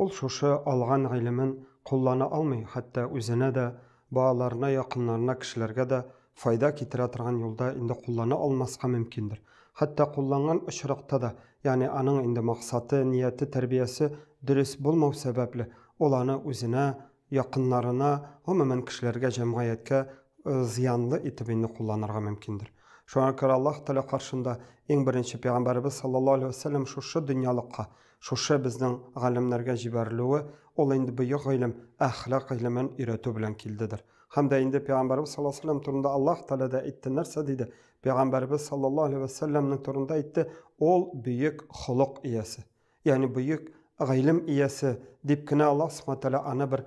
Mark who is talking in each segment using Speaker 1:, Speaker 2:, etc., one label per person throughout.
Speaker 1: Ул шушы алган гыйлемен куллана алмый, хәтта үзенә дә, балаларына, якыннарына, кешеләргә дә файда китерә торган юлда инде куллана алмаска мөмкиндер. Хәтта кулланган очракта да, ягъни аның инде максаты, нияте, тәрбиясе дөрес булмау сәбәпле, ул аны үзенә, якыннарына, гомумән, кешеләргә, җәмгыятькә зыянлы итеп инде кулланырга мөмкиндер. Шуңа күрә Аллаһ Тәгалә каршында иң беренче Пәйгамбәребез саллаллаһу галәйһи ва сәлләм шушы дөньялыкка, Шушы безнең галимнәргә җибәрелүе ул инде бөек гыйлем, әхлак гыйлемен өйрәтү белән килдедер. Һәм дә инде пәйгамбәрбез саллаллаһу алейһи вә сәлләм турында Аллаһ Тәгалә дә әйтте, нәрсә диде? Пәйгамбәрбез саллаллаһу алейһи вә сәлләмнең турында әйтте, ул бөек холык иясе, ягъни бөек гыйлем иясе дип кенә Аллаһ субхана тәгалә аны бер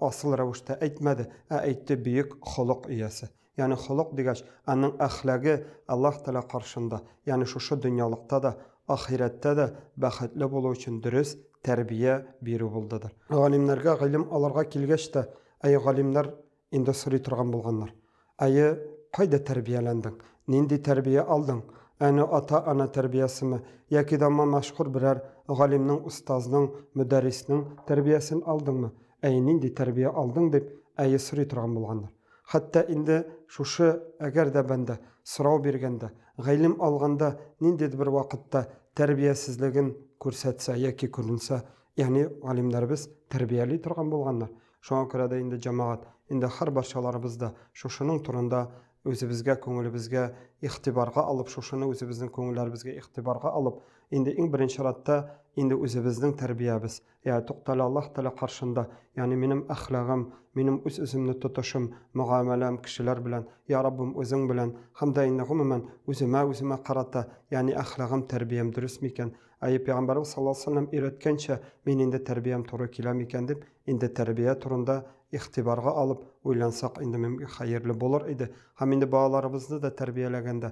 Speaker 1: асыл рәвештә әйтмәде, ә әйтте бөек холык иясе. Ягъни холык дигәч, аның әхлаге Аллаһ Тәгалә каршында, ягъни шушы дөньялыкта да, ахирәттә дә бәхетле булу өчен дөрес тәрбия бирү булдыдыр. Галимнәргә гыйлем алырга килгәч тә, әйе, галимнәр инде сорый торган булганнар, Әйе, кайда тәрбияләндең? Нинди тәрбия алдың? Әни, ата-ана тәрбиясеме, яки дә ма мәшһүр берәр галимнең, остазның, мөдәрриснең тәрбиясен алдыңмы? Әйе, нинди тәрбия алдың? дип, әйе, сорый торган булганнар. Хәтта инде шушы әгәр дә бәндә, сорау биргәндә, гыйлем алганда ниндидер бер вакытта тәрбиясезлеген күрсәтсә яки күренсә, ягъни галимнәребез тәрбияли торган булганнар. Шуңа күрә дә инде, җәмәгать, инде һәрбарчаларыбыз да шушының турында үзебезгә, күңелебезгә игътибарга алып, шушыны үзебезнең күңелләребезгә игътибарга алып, инде иң беренче чиратта инде үзебезнең тәрбиябез, Йә, туктале, Аллаһ Тәгалә каршында, ягъни минем әхлагым, минем үз-үземне тотышым, мөгамәләм кешеләр белән, йә Раббым, Үзең белән, һәм дә инде, гомумән, үземә, үземә карата, ягъни әхлагым, тәрбиям дөрес микән? Әйе, Пәйгамбәребез саллаллаһу алейһи ва сәлләм өйрәткәнчә, мин инде тәрбиям туры килә микән дип, инде тәрбия турында игътибарга алып, уйлансак, инде, мөмкин, хәерле булыр иде. Һәм инде балаларыбызны да тәрбияләгәндә,